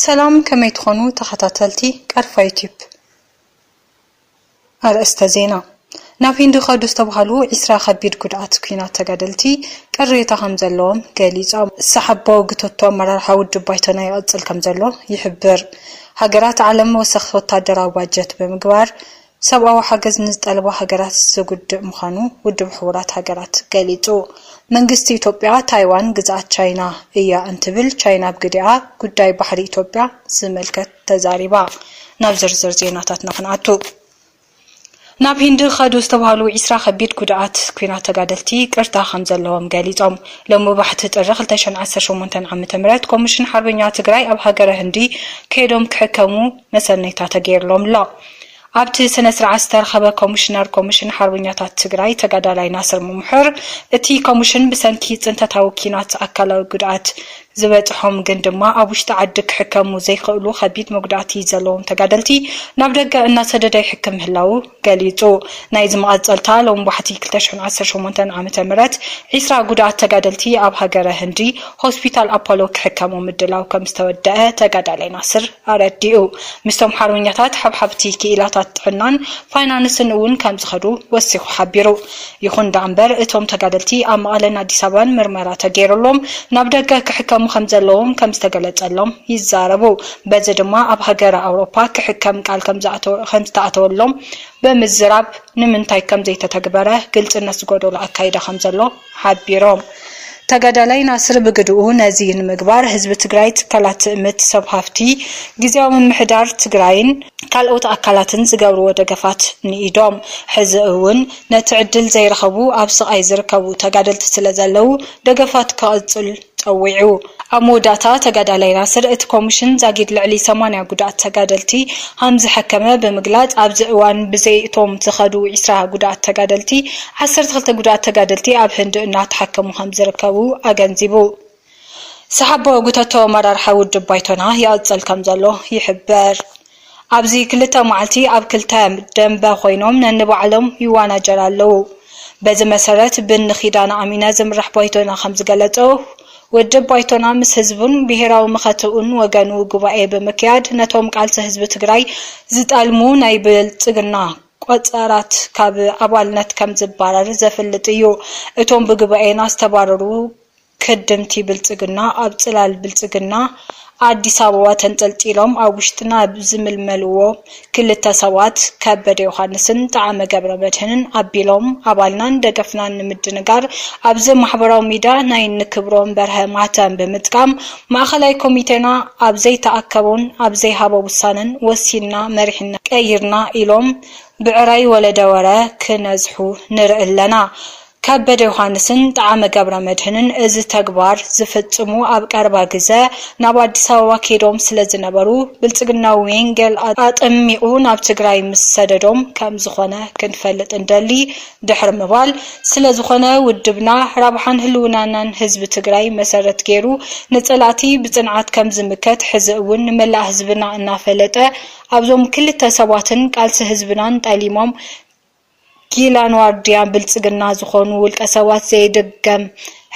ሰላም ከመይ ትኾኑ ተኸታተልቲ ቀርፋ ዩቱብ። ኣርእስተ ዜና፣ ናብ ሂንዲ ከዱ ዝተብሃሉ ዒስራ ከቢድ ጉድኣት ኲናት ተጋደልቲ ቅሬታ ከምዘለዎም ገሊፆም። ሰሓባዊ ግቶቶ ኣመራርሓ ውድብ ባይቶና ይቕፅል ከምዘሎ ይሕብር። ሃገራት ዓለም ወሰኽ ወታደራዊ ባጀት ብምግባር ሰብኣዊ ሓገዝ ንዝጠልባ ሃገራት ዝጉድእ ምዃኑ ውድብ ሕቡራት ሃገራት ገሊጹ። መንግስቲ ኢትዮጵያ ታይዋን ግዝኣት ቻይና እያ እንትብል ቻይና ብግዲኣ ጉዳይ ባሕሪ ኢትዮጵያ ዝምልከት ተዛሪባ። ናብ ዝርዝር ዜናታትና ክንኣቱ። ናብ ሂንዲ ኸዱ ዝተባህሉ ዒስራ ከቢድ ጉድኣት ኲናት ተጋደልቲ ይቅርታ ከምዘለዎም ገሊጾም። ሎሚ ባሕቲ ጥሪ ክልተ ሽሕን ዓሰርተ ሸሞንተን ዓመተ ምህረት ኮምሽን ሓርበኛ ትግራይ ኣብ ሃገረ ህንዲ ከይዶም ክሕከሙ መሰነይታ ተገይርሎም ኣሎ። ኣብቲ ስነ ስርዓት ዝተረኸበ ኮሚሽነር ኮሚሽን ሓርበኛታት ትግራይ ተጋዳላይ ናስር ሙሙሑር እቲ ኮሚሽን ብሰንኪ ፅንተታዊ ኪናት ኣካላዊ ጉድኣት ዝበፅሖም ግን ድማ ኣብ ውሽጢ ዓዲ ክሕከሙ ዘይኽእሉ ከቢድ መጉዳእቲ ዘለዎም ተጋደልቲ ናብ ደገ እናሰደደ ይሕክም ምህላዉ ገሊጹ። ናይዚ መቐጸልታ ሎም ዋሕቲ ክልተ ሽሕን ዓሰርተ ሸሞንተን ዓመተ ምህረት ዒስራ ጉዳኣት ተጋደልቲ ኣብ ሃገረ ህንዲ ሆስፒታል ኣፖሎ ክሕከሙ ምድላው ከም ዝተወደኣ ተጋዳላይ ናስር ኣረዲኡ። ምስቶም ሓርበኛታት ሓብሓብቲ ክኢላታት ጥዕናን ፋይናንስን እውን ከም ዝኸዱ ወሲኹ ሓቢሩ። ይኹን ደኣምበር እቶም ተጋደልቲ ኣብ መቐለን ኣዲስ ኣበባን ምርመራ ተገይሩሎም ናብ ደገ ክሕከሙ ከምዘለዎም ከምዝተገለፀሎም ይዛረቡ። በዚ ድማ ኣብ ሃገረ ኣውሮፓ ክሕከም ቃል ከምዝተኣተወሎም ብምዝራብ ንምንታይ ከምዘይተተግበረ ግልፅነት ዝጎደሎ ኣካይዳ ከምዘሎ ሓቢሮም። ተጋዳላይ ናስር ብግድኡ ነዚ ንምግባር ህዝቢ ትግራይ፣ ትካላት ትእምት፣ ሰብ ሃፍቲ፣ ግዝያዊ ምምሕዳር ትግራይን ካልኦት ኣካላትን ዝገብርዎ ደገፋት ንኢዶም። ሕዚ እውን ነቲ ዕድል ዘይረኸቡ ኣብ ስቓይ ዝርከቡ ተጋደልቲ ስለዘለዉ ደገፋት ክቕፅል ፀዊዑ። ኣብ መወዳእታ ተጋዳላይ ናስር፣ እቲ ኮሚሽን ዛጊድ ልዕሊ ሰማንያ ጉዱኣት ተጋደልቲ ሃምዝሐከመ ብምግላፅ፣ ኣብዚ እዋን ብዘይ እቶም ዝኸዱ ዕስራ ጉዱኣት ተጋደልቲ ዓሰርተ ክልተ ጉዱኣት ተጋደልቲ ኣብ ህንዲ እናተሓከሙ ከምዝርከቡ ኣገንዚቡ። ሰሓቦ ጉተቶ ኣመራርሓ ውድብ ባይቶና ይቕፅል ከምዘሎ ይሕበር። ኣብዚ ክልተ መዓልቲ ኣብ ክልተ ደምበ ኮይኖም ነንባዕሎም ይዋናጀር ኣለው። በዚ መሰረት ብእኒ ኪዳነ ኣሚነ ዝምራሕ ባይቶና ከምዝገለፆ ውድብ ባይቶና ምስ ህዝቡን ብሄራዊ መኸተኡን ወገኑ ጉባኤ ብምክያድ ነቶም ቃልሲ ህዝቢ ትግራይ ዝጠልሙ ናይ ብልፅግና ቆፀራት ካብ ኣባልነት ከምዝባረር ዘፍልጥ እዩ። እቶም ብጉባኤና ዝተባረሩ ከደምቲ ብልፅግና ኣብ ፅላል ብልፅግና ኣዲስ ኣበባ ተንጠልጢሎም ኣብ ውሽጥና ኣብ ዝምልመልዎ ክልተ ሰባት ከበደ ዮሃንስን ጠዓመ ገብረመድህንን ኣቢሎም ኣባልናን ደገፍናን ንምድንጋር ኣብዚ ማሕበራዊ ሚድያ ናይ ንክብሮም በርሀ ማህተም ብምጥቃም ማእኸላይ ኮሚቴና ኣብ ዘይተኣከቦን ኣብ ዘይሃቦ ውሳነን ወሲንና መሪሕነት ቀይርና ኢሎም ብዕራይ ወለደወረ ክነዝሑ ንርኢ ኣለና። ከበደ ዮሃንስን ጠዓመ ገብረመድህንን እዚ ተግባር ዝፍፅሙ ኣብ ቀረባ ግዘ ናብ ኣዲስ ኣበባ ከይዶም ስለዝነበሩ ብልፅግና ዌንጌል ኣጠሚቑ ናብ ትግራይ ምስ ሰደዶም ከምዝኾነ ክንፈልጥ ንደሊ ድሕሪ ምባል ስለዝኾነ ውድብና ረብሓን ህልውናናን ህዝቢ ትግራይ መሰረት ገይሩ ንፀላእቲ ብፅንዓት ከምዝምከት ሕዚ እውን ንመላእ ህዝብና እናፈለጠ ኣብዞም ክልተ ሰባትን ቃልሲ ህዝብናን ጠሊሞም ጊላን ዋርድያን ብልፅግና ዝኾኑ ውልቀ ሰባት ዘይድገም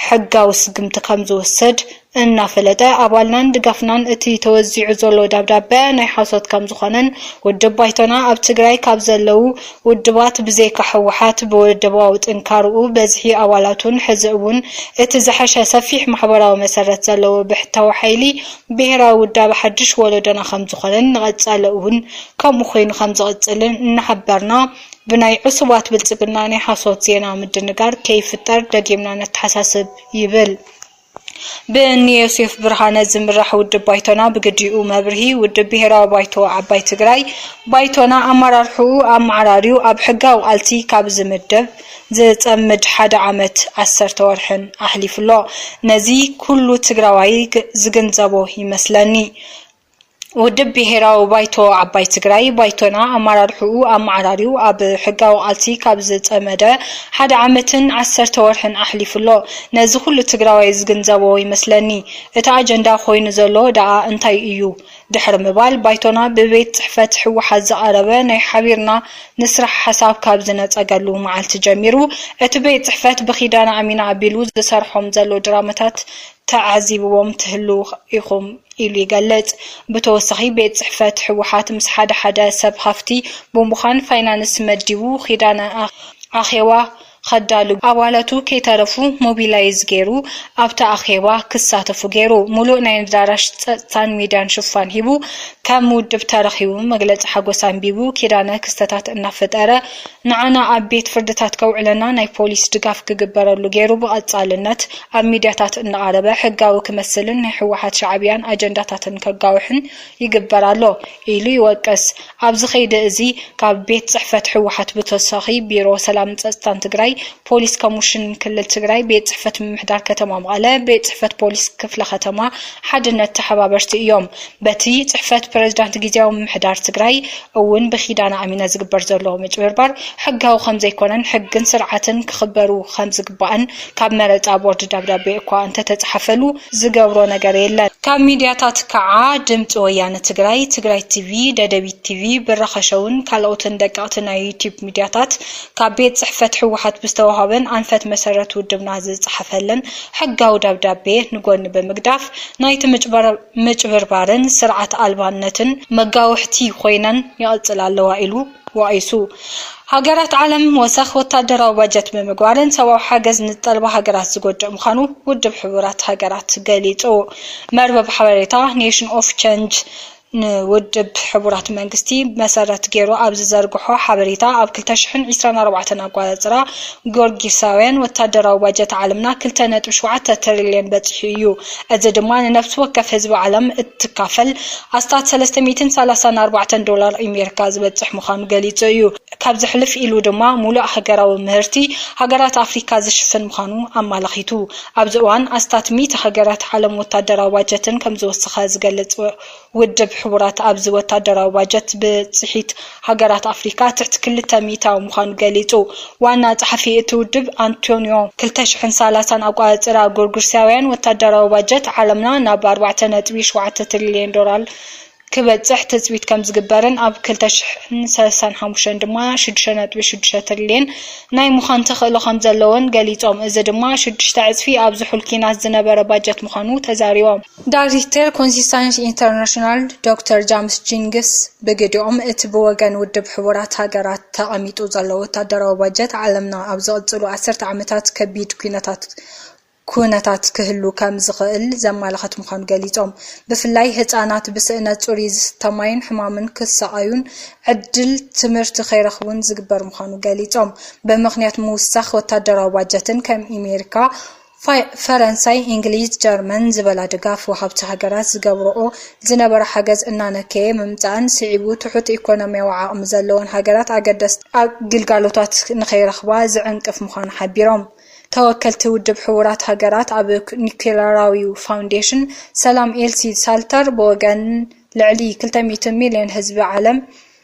ሕጋዊ ስጉምቲ ከምዝውሰድ እናፈለጠ ኣባልናን ድጋፍናን እቲ ተወዚዑ ዘሎ ደብዳበ ናይ ሓሶት ከምዝኾነን ውድብ ባይቶና ኣብ ትግራይ ካብ ዘለው ውድባት ብዘይካ ህወሓት ብውድባዊ ጥንካርኡ በዝሒ ኣባላቱን ሕዚ እውን እቲ ዝሐሸ ሰፊሕ ማሕበራዊ መሰረት ዘለዎ ብሕታዊ ሓይሊ ብሄራዊ ውዳበ ሓድሽ ወለዶና ከምዝኾነን ንቐፃሊ እውን ከምኡ ኮይኑ ከምዝቕፅልን እናሓበርና ብናይ ዕሱባት ብልፅግና ናይ ሓሶት ዜና ምድንጋር ከይፍጠር ደጊምና ነተሓሳስብ ይብል ብእኒዮሴፍ ብርሃነ ዝምራሕ ውድብ ባይቶና ብግዲኡ መብርሂ ውድብ ብሄራዊ ባይቶ ዓባይ ትግራይ ባይቶና ኣመራርሕኡ ኣመዓራርዩ ኣብ ሕጋዊ ቃልሲ ካብ ዝምደብ ዝጸምድ ሓደ ዓመት ዓሰርተ ወርሕን ኣሕሊፉ ኣሎ። ነዚ ኩሉ ትግራዋይ ዝግንዘቦ ይመስለኒ። ውድብ ብሄራዊ ባይቶ ዓባይ ትግራይ፣ ባይቶና፣ ኣመራርሕኡ ኣመዓራርዩ ኣብ ሕጋዊ ቃልሲ ካብ ዝጸመደ ሓደ ዓመትን ዓሰርተ ወርሕን ኣሕሊፉ ኣሎ። ነዚ ኩሉ ትግራዋይ ዝግንዘቦ ይመስለኒ። እቲ ኣጀንዳ ኮይኑ ዘሎ ደኣ እንታይ እዩ? ድሕሪ ምባል ባይቶና ብቤት ፅሕፈት ህወሓት ዝቐረበ ናይ ሓቢርና ንስራሕ ሓሳብ ካብ ዝነፀገሉ መዓልቲ ጀሚሩ እቲ ቤት ፅሕፈት ብኪዳነ ኣሚን ኣቢሉ ዝሰርሖም ዘሎ ድራማታት ተዓዚብዎም ትህልው ኢኹም ኢሉ ይገልፅ። ብተወሳኺ ቤት ፅሕፈት ህወሓት ምስ ሓደ ሓደ ሰብ ሃፍቲ ብምዃን ፋይናንስ መዲቡ ኪዳነ ኣኼባ ኸዳሉ ኣባላቱ ከይተረፉ ሞቢላይዝ ገይሩ ኣብቲ ኣኼባ ክሳተፉ ገይሩ። ሙሉእ ናይ ኣዳራሽ ፀፅታን ሚድያን ሽፋን ሂቡ ከም ውድብ ተረኺቡ መግለፂ ሓጎስ ኣንቢቡ ኪዳነ ክስተታት እናፈጠረ ንዓና ኣብ ቤት ፍርድታት ከውዕለና ናይ ፖሊስ ድጋፍ ክግበረሉ ገይሩ ብቐፃልነት ኣብ ሚድያታት እናቐረበ ሕጋዊ ክመስልን ናይ ህወሓት ሻዕብያን ኣጀንዳታትን ከጋውሕን ይግበር ኣሎ ኢሉ ይወቅስ። ኣብዚ ከይዲ እዚ ካብ ቤት ፅሕፈት ህወሓት ብተወሳኺ ቢሮ ሰላምን ፀፅታን ትግራይ፣ ፖሊስ ኮሙሽን ክልል ትግራይ፣ ቤት ፅሕፈት ምምሕዳር ከተማ መቐለ፣ ቤት ፅሕፈት ፖሊስ ክፍለ ከተማ ሓድነት ተሓባበርቲ እዮም። በቲ ፅሕፈት ፕረዚዳንት ጊዚያዊ ምምሕዳር ትግራይ እውን ብኪዳነ ኣሚነ ዝግበር ዘሎ ምጭብርባር ሕጋዊ ከምዘይኮነን ሕግን ስርዓትን ክኽበሩ ከምዝግባእን ካብ መረፃ ቦርድ ደብዳቤ እኳ እንተተፅሓፈሉ ዝገብሮ ነገር የለን። ካብ ሚድያታት ከዓ ድምፂ ወያነ ትግራይ፣ ትግራይ ቲቪ፣ ደደቢት ቲቪ፣ ብራኸ ሸውን ካልኦትን ደቀቕቲ ናይ ዩቲዩብ ሚድያታት ካብ ቤት ፅሕፈት ህወሓት ብዝተውሃበን ኣንፈት መሰረት ውድብና ዝፀሓፈለን ሕጋዊ ደብዳቤ ንጎኒ ብምግዳፍ ናይቲ ምጭብርባርን ስርዓት ኣልባነትን መጋውሕቲ ኮይነን ይቕፅላ ኣለዋ ኢሉ። ተዋኢሱ። ሃገራት ዓለም ወሰኽ ወታደራዊ ባጀት ብምግባርን ሰብኣዊ ሓገዝ ንዝጠልባ ሃገራት ዝጎድእ ምዃኑ ውድብ ሕቡራት ሃገራት ገሊጹ። መርበብ ሓበሬታ ኔሽን ኦፍ ቸንጅ ንውድብ ሕቡራት መንግስቲ መሰረት ገይሩ ኣብ ዝዘርግሖ ሓበሬታ ኣብ ክልተ ሽሕን ዒስራን ኣርባዕተን ኣጓጽራ ጊዮርጊሳውያን ወታደራዊ ባጀት ዓለምና ክልተ ነጥቢ ሸውዓተ ትሪልየን በፂሑ እዩ። እዚ ድማ ንነፍሲ ወከፍ ህዝቢ ዓለም እትካፈል ኣስታት ሰለስተ ሚእትን ሰላሳን ኣርባዕተን ዶላር ኣሜሪካ ዝበፅሕ ምዃኑ ገሊፁ እዩ። ካብዚ ሕልፍ ኢሉ ድማ ሙሉእ ሃገራዊ ምህርቲ ሃገራት ኣፍሪካ ዝሽፍን ምዃኑ ኣማላኺቱ። ኣብዚ እዋን ኣስታት ሚእቲ ሃገራት ዓለም ወታደራዊ ባጀተን ከምዝወሰኸ ዝገልፅ ውድብ ሕቡራት ኣብዚ ወታደራዊ ባጀት ብፅሒት ሃገራት ኣፍሪካ ትሕቲ ክልተ ሚኢታዊ ምዃኑ ገሊፁ። ዋና ፀሓፊ እቲ ውድብ ኣንቶንዮ ክልተ ሽሕን ሰላሳን ኣቋፅፃራ ጎርጉርሳውያን ወታደራዊ ባጀት ዓለምና ናብ ኣርባዕተ ነጥቢ ሸውዓተ ትሪልየን ዶላር ክበፅሕ ትፅቢት ከምዝግበርን ኣብ ክልተ ሽሕን ሰላሳን ሓሙሽተን ድማ ሽዱሽተ ነጥቢ ሽዱሽተ ትሪልየን ናይ ምዃን ተኽእሎ ከምዘለዎን ገሊፆም። እዚ ድማ ሽዱሽተ ዕፅፊ ኣብ ዝሑል ኪናት ዝነበረ ባጀት ምዃኑ ተዛሪቦም። ዳይሬክተር ኮንሲስታንስ ኢንተርናሽናል ዶክተር ጃምስ ጂንግስ ብግዲኦም፣ እቲ ብወገን ውድብ ሕቡራት ሃገራት ተቐሚጡ ዘሎ ወታደራዊ ባጀት፣ ዓለምና ኣብ ዝቕጽሉ ዓሰርተ ዓመታት ከቢድ ኲነታት ኩነታት ክህሉ ከም ዝኽእል ዘመላኽት ምዃኑ ገሊጾም። ብፍላይ ህጻናት ብስእነት ጽሩይ ዝስተ ማይን ሕማምን ክሳቐዩን ዕድል ትምህርቲ ከይረኽቡን ዝግበር ምዃኑ ገሊጾም። ብምኽንያት ምውሳኽ ወታደራዊ ባጀትን ከም ኣሜሪካ፣ ፈረንሳይ፣ እንግሊዝ፣ ጀርመን ዝበላ ድጋፍ ወሃብቲ ሃገራት ዝገብርኦ ዝነበራ ሓገዝ እናነከየ ምምጽኣን ስዒቡ ትሑት ኢኮኖሚያዊ ዓቕሚ ዘለወን ሃገራት ኣገደስቲ ግልጋሎታት ንኸይረኽባ ዝዕንቅፍ ምዃኑ ሓቢሮም። ተወከልቲ ውድብ ሕቡራት ሃገራት ኣብ ኒኩለራዊ ፋውንዴሽን ሰላም ኤልሲ ሳልተር ብወገን ልዕሊ ክልተ ሚእቲ ሚልዮን ህዝቢ ዓለም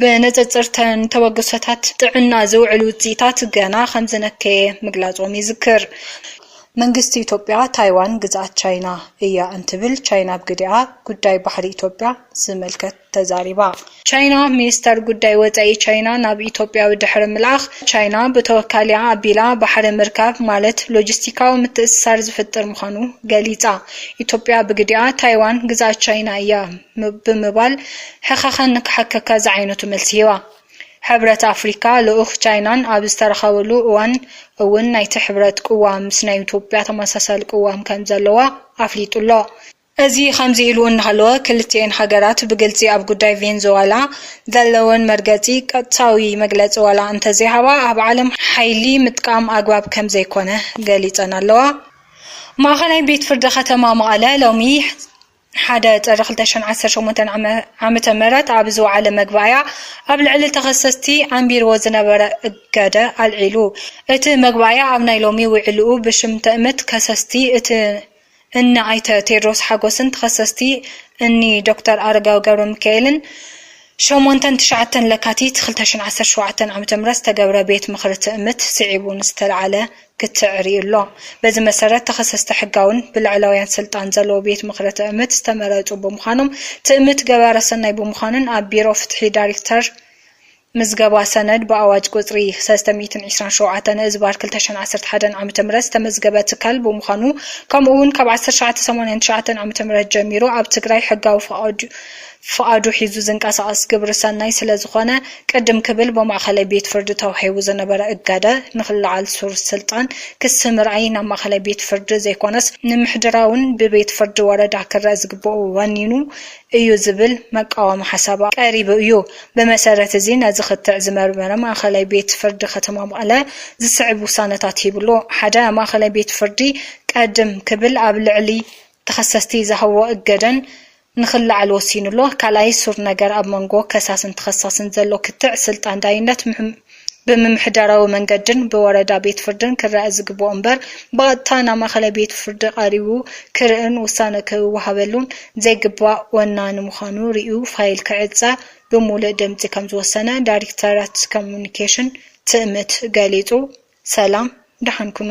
ብንፅፅር'ተን ተበግሶታት ጥዕና ዝውዕል ውፅኢታት ገና ከምዝነከየ ምግላፆም ይዝክር። መንግስቲ ኢትዮጵያ ታይዋን ግዝኣት ቻይና እያ እንትብል፣ ቻይና ብግዲኣ ጉዳይ ባሕሪ ኢትዮጵያ ዝምልከት ተዛሪባ። ቻይና፣ ሚኒስተር ጉዳይ ወፃኢ ቻይና ናብ ኢትዮጵያ ድሕሪ ምልኣኽ፣ ቻይና ብተወካሊኣ ኣቢላ ባሕሪ ምርካብ ማለት ሎጂስቲካዊ ምትእስሳር ዝፍጥር ምዃኑ ገሊፃ። ኢትዮጵያ ብግዲኣ ታይዋን ግዝኣት ቻይና እያ ብምባል ሕኸኸ ንክሓከካ ዝዓይነቱ መልሲ ሂባ። ሕብረት ኣፍሪካ ልኡኽ ቻይናን ኣብ ዝተረኸብሉ እዋን እውን ናይቲ ሕብረት ቅዋም ምስ ናይ ኢትዮጵያ ተመሳሳሊ ቅዋም ከምዘለዋ ኣፍሊጡ ኣሎ። እዚ ከምዚ ኢሉ እናሃለወ ክልቲኤን ሃገራት ብግልፂ ኣብ ጉዳይ ቬንዙዋላ ዘለወን መርገፂ ቀጥታዊ መግለፂ ዋላ እንተዘይሃባ ኣብ ዓለም ሓይሊ ምጥቃም ኣግባብ ከምዘይኮነ ገሊፀን ኣለዋ። ማእኸላይ ቤት ፍርዲ ከተማ መቐለ ሎሚ፣ ሓደ ጥሪ ክልተ ሽሕን ዓሰርተ ሸሞንተን ዓመተ ምህረት ኣብ ዝወዓለ መግባእያ ኣብ ልዕሊ ተኸሰስቲ ኣንቢርዎ ዝነበረ እገደ ኣልዒሉ። እቲ መግባእያ ኣብ ናይ ሎሚ ውዕልኡ ብሽም ትእምት ከሰስቲ እቲ እኒ ኣይተ ቴድሮስ ሓጎስን ተኸሰስቲ እኒ ዶክተር ኣረጋዊ ገብረሚካኤልን ሸሞንተን ትሽዓተን ለካቲት ክልተ ሽሕን ዓሰርተ ሸውዓተን ዓመተ ምህረት ዝተገብረ ቤት ምኽሪ ትእምት ስዒቡ ንዝተልዓለ ክትዕሪ ኣሎ። በዚ መሰረት ተኸሰስቲ ሕጋውን ብላዕላውያን ስልጣን ዘለዎ ቤት ምኽሪ ትእምት ዝተመረፁ ብምዃኖም ትእምት ገባረ ሰናይ ብምዃኑን ኣብ ቢሮ ፍትሒ ዳሪክተር ምዝገባ ሰነድ ብኣዋጅ ቁፅሪ ሰለስተ ሚእትን ዒስራን ሸውዓተን ህዝባር ክልተ ሽሕን ዓሰርተ ሓደን ዓ ም ዝተመዝገበ ትካል ብምዃኑ ከምኡ እውን ካብ ዓሰርተ ትሽዓተ ሰማንያን ትሽዓተን ዓ ም ጀሚሩ ኣብ ትግራይ ሕጋዊ ፍቓዱ ፍቓዱ ሒዙ ዝንቀሳቐስ ግብሪ ሰናይ ስለ ዝኾነ ቅድም ክብል ብማእኸላይ ቤት ፍርዲ ተዋሂቡ ዝነበረ እገደ ንክለዓል ሱር ስልጣን ክሲ ምርኣይ ናብ ማእኸላይ ቤት ፍርዲ ዘይኮነስ ንምሕድራውን ብቤት ፍርዲ ወረዳ ክረእ ዝግበኦ ወኒኑ እዩ ዝብል መቃወሚ ሓሳብ ቀሪቡ እዩ። ብመሰረት እዚ ነዚ ክትዕ ዝመርመረ ማእኸላይ ቤት ፍርዲ ከተማ መቐለ ዝስዕብ ውሳነታት ሂቡ ኣሎ። ሓደ፣ ማእኸላይ ቤት ፍርዲ ቀድም ክብል ኣብ ልዕሊ ተኸሰስቲ ዝሃቦ እገደን ንክለዓል ወሲኑ ኣሎ። ካልኣይ ሱር ነገር ኣብ መንጎ ከሳስን ተኸሳስን ዘሎ ክትዕ ስልጣን ዳይነት ብምምሕዳራዊ መንገድን ብወረዳ ቤት ፍርድን ክረኣ ዝግበኦ እምበር ብቐጥታ ናብ ማእኸላይ ቤት ፍርዲ ቀሪቡ ክርእን ውሳነ ክወሃበሉን ዘይግባእ ወናኒ ምዃኑ ሪኡ ፋይል ክዕፀ ብሙሉእ ድምፂ ከምዝወሰነ ዳይሬክተራት ኮሙኒኬሽን ትእምት ገሊፁ። ሰላም ደሓን ኩኑ።